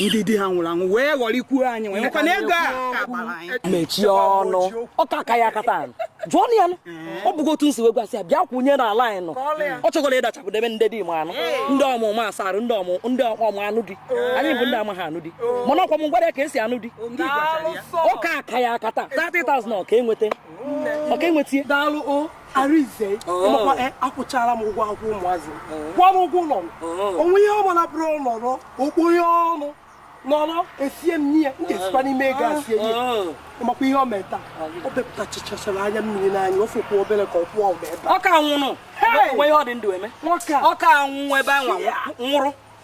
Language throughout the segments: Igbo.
ndị di ha nwụrụ anwụ wee ghọrịkwuo anyị wee nwekwa na ego a mechie ọnụ ọ ka aka ya akata anyị jụọ na ya nụ. ọ bụgo otu m si wee gwasị ya bịa kwụnye na line anyị nọ ọ chọkwara ịdachapụ debe ndị di ma anụ ndị ọmụma asarụ ndị ọmụ ndị ọma anụ di anyị bụ ndị amaghị anụ di mana ọ kwa m gwara ya ka e si anụ di ọ ka aka ya akata 30,000 ọ ka enweta ọ ka enweta daalụ o Arinze ịmakwa e, akwụchara m ụgwọ akwụkwọ ụmụazị kwụọ m ụgwọ ụlọ m o nwee ihe ọ bụla bụrụ nọrọ okpo ya ọnụ nọrọ esie m n'ihe m ga-esikwa n'ime ego asie ihe ịmakwa ihe o mere taa o bepụtachachara anya mmiri n'anya ọ fọkwa obere ka ọ kwụọ ụdọ ebe ọ ka nwụrụ nwoke a nwụnwụ ebe a nwụrụ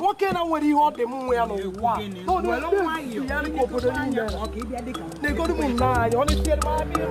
nwoke na-enwere ihe ọ dị m nwe ya n'ụwa na-egoro m nna anyị ọ na-etinyere m aka